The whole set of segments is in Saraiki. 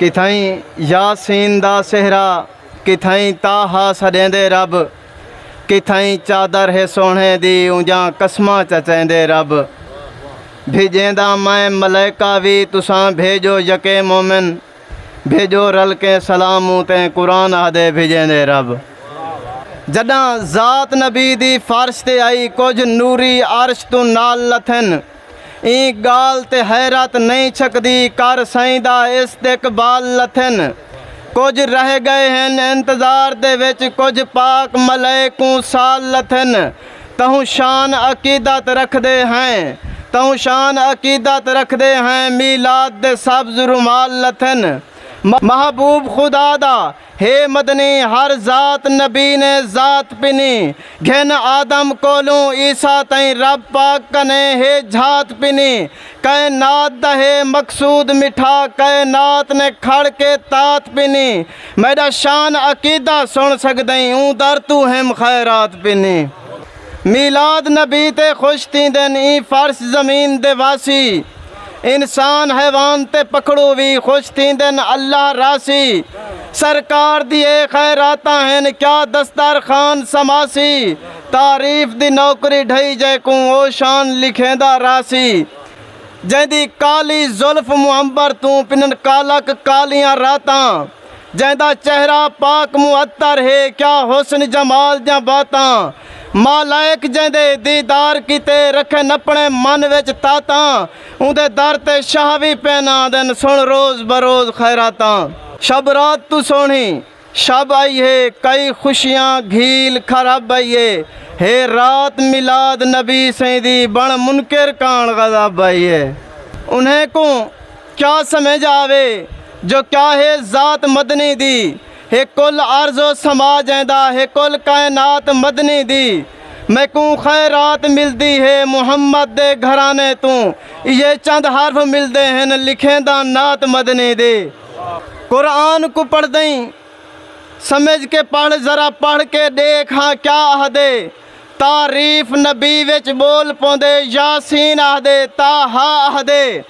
کتھائیں یاسین دا سہرا کتھائیں طٰہٰ سݙیندے رب کتھائیں چادر ہے سوہݨے دی اونجاں قسماں چچیندے رب بھیڄیندا میں ملائکہ وی تساں بھیڄو یکے مومن بھیڄو رل کے سلام اتے قرآن آہدے بھیڄیندے رب جݙاں ذات نبی دی فرش تے آئی کجھ نوری عرش توں نال لتھن۔ ایں گالھ تے حیرت نئیں چھکدی کر سئیں دا استقبال لتھن کجھ رہ گئے ہن انتظار دے وچ کجھ پاک ملئے کوں سال لتھن تہوں شان عقیدت رکھدے ہیں تہوں شان عقیدت رکھدے ہیں میلاد دے سبز رومال لتھن محبوب خدا دا ہے مدنی ہر ذات نبی نے ذات پنی گھن آدم کولوں عیسی تئیں رب پاک کنے ہے جھات پنی کائنات دا ہے مقصود مٹھا کائنات نے کھڑ کے تات پنی میڈا شان عقیدہ سن سگدئیں اوں در توں ہم خیرات پنی۔ میلاد نبی تے خوش تھیندن ایں فرش زمین دے واسی انسان حیوان تے پکھڑو وی خوش تھیندن اللہ راسی سرکار دی اے خیراتاں ہن کیا دستار خان سماسی تعریف دی نوکری ڈھئی جے کوں او شان لکھیندا راسی جیندی کالی زلف معنبر توں پنن کالک کالیاں راتاں۔ جیندا چہرہ پاک معطر ہے کیا حسن جمال دیاں باتاں مالائک جیندے دیدار کیتے رکھن اپنے من وچ تاتاں اوندے در تے شاہ وی پئن آندن سن روز بروز خیراتاں۔ شب رات توں سوہݨی شب آئی ہے کئی خوشیاں گھیل کھرب آئی ہے ہے رات میلاد نبی سئیں دی بݨ منکر کاݨ غضب آئی ہے انہیں کوں کیا سمجھ آوے جو کیا ہے ذات مدنی دی ہے کل عرض و سما جیندا ہے کل کائنات مدنی دی میکوں خیرات ملدی ہے محمد دے گھرانے توں ایہے چند حرف ملدے ہن لکھینداں نعت مدنی دی قرآن کوں پڑھدئیں سمجھ کے پڑھ ذرا پڑھ کے ڈیکھ ہاں کیا آہدے تعریف نبی وچ بول پوندے یاسین آہدے طٰہٰ آہدے۔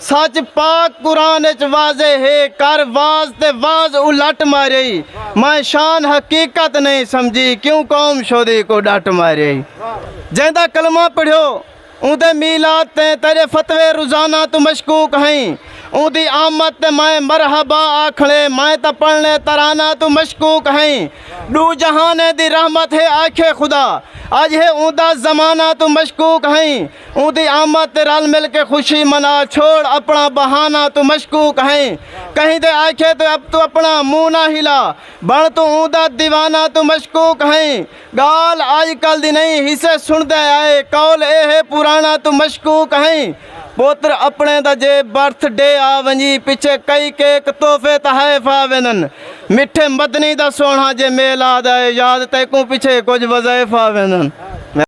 سچ پاک قرآن اچ واضح ہے کر واز تے واز الٹ ماریئی میں شان حقیقت نہیں سمجھی کیوں قوم شودی کو ڈٹ ماریئی جیندا کلمہ پڑھیو اوندے میلاد تے تیرے فتوے روزانہ تو مشکوک ہئیں اوندی آمد تے میں مرحبا آکھنے میں تاں پڑھنے ترانہ تو مشکوک ہئیں ڈو جہانیں دی رحمت ہے آکھے خدا اج ہے اوندا زمانہ تو مشکوک ہئیں اوندی آمد تے رل مل کے خوشی منا چھوڑ اپنا بہانہ توں مشکوک ہئیں کہیں دے آکھے تے اب توں اپنا منہ نہ ہلا بن توں اوندا دیوانہ توں مشکوک ہئیں گالھ اج کل دی نہیں حصے سنڑدے آئے قول اے ہے پرانہ توں مشکوک ہئیں پوتر اپنے دا جے برتھ ڈے آ ونجی پچھے کئی کیک تحفے تحائف آ ویندن مٹھے مدنی دا سونہا جے میلاد آئے یاد تیکوں پچھے کجھ وظائف آ ویندن۔